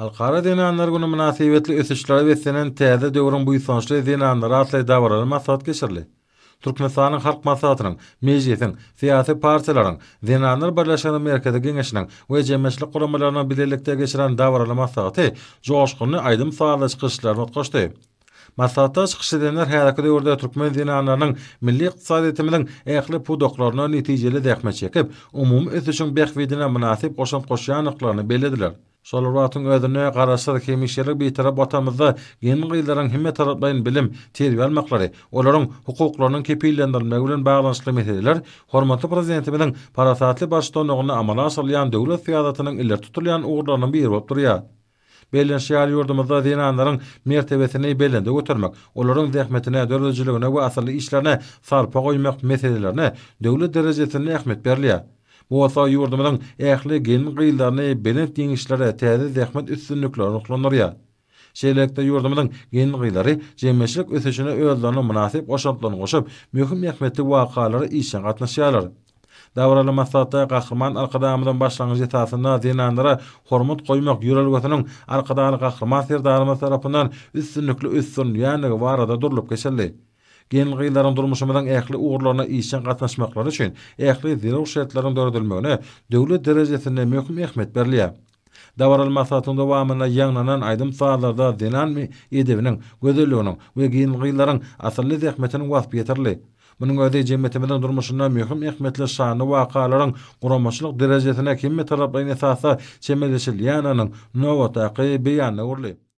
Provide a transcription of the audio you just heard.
Halkara zenanlar güni mynasybetli ösüşlere beslenen Täze döwrüň buýsançly zenanlary atly dabaraly maslahat geçirildi. Türkmenistanyň Halk Maslahatynyň, Mejlisiň, syýasy partiýalaryň, Zenanlar birleşiginiň Merkezi Geňeşiniň we jemgyýetçilik guramalarynyň bilelikde geçiren dabaraly maslahaty joşgunly aýdym-sazly çykyş yşlaryna utgaşdy. Maslahatda çykyş edenler häzirki döwürde türkmen zenanlarynyň milli ykdysadyýetimiziň ähli pudaklarynda netijeli zähmet çekip, umumy ösüşiň bähbidine mynasyp goşant goşýandyklaryny bellediler. Şol bir wagtyň özünde Garaşsyz, hemişelik Bitarap Watanymyzda gelin-gyzlaryň hemmetaraplaýyn bilim, terbiýe almaklary, olaryň hukuklarynyň kepillendirilmegi bilen baglanyşykly meseleler hormatly Prezidentimiziň parasatly baştutanlygynda amala aşyrylýan döwlet syýasatynyň ileri tutulýan ugurlarynyň biri bolup durýar. Bellenişi ýaly, ýurdumyzda zenanlaryň mertebesini belende götermek, olaryň zähmetine, döredijiligine we asylly işlerine sarpa goýmak meselelerine döwlet derejesinde ähmiýet berilýär. Bu bolsa ýurdumyzyň ähli gelin-gyzlaryny belent ýeňişlere, täze zähmet üstünliklere ruhlandyrýar. Şeýlelikde, ýurdumyzyň gelin-gyzlary jemgyýetçilik ösüşine özleriniň mynasyp goşantlaryny goşup, möhüm ähmiýetli wakalara işjeň gatnaşýarlar. Dabaraly maslahatda Gahryman Arkadagymyzyň başlangyjy esasynda zenanlara hormat goýmak ýörelgesiniň Arkadagly Gahryman Serdarymyz tarapyndan üstünlikli ösdürilýändigi barada durlup geçildi. Gelin-gyzlaryň durmuşymyzyň ähli ugurlaryna işjeň gatnaşmaklary üçin ähli zerur şertleriň döredilmegine döwlet derejesinde möhüm ähmiýet berilýär. Dabaraly maslahatyň dowamynda ýaňlanan aýdym-sazlarda zenan edebiniň, gözelliginiň we gelin-gyzlaryň asylly zähmetiniň waspy ýetirildi. Munuň özi jemgyýetimiziň durmuşynda möhüm ähmiýetli şanly wakalaryň guramaçylyk derejesine hemmetaraplaýyn esasda çemeleşilýändiginiň nobatdaky beýanyna öwrüldi.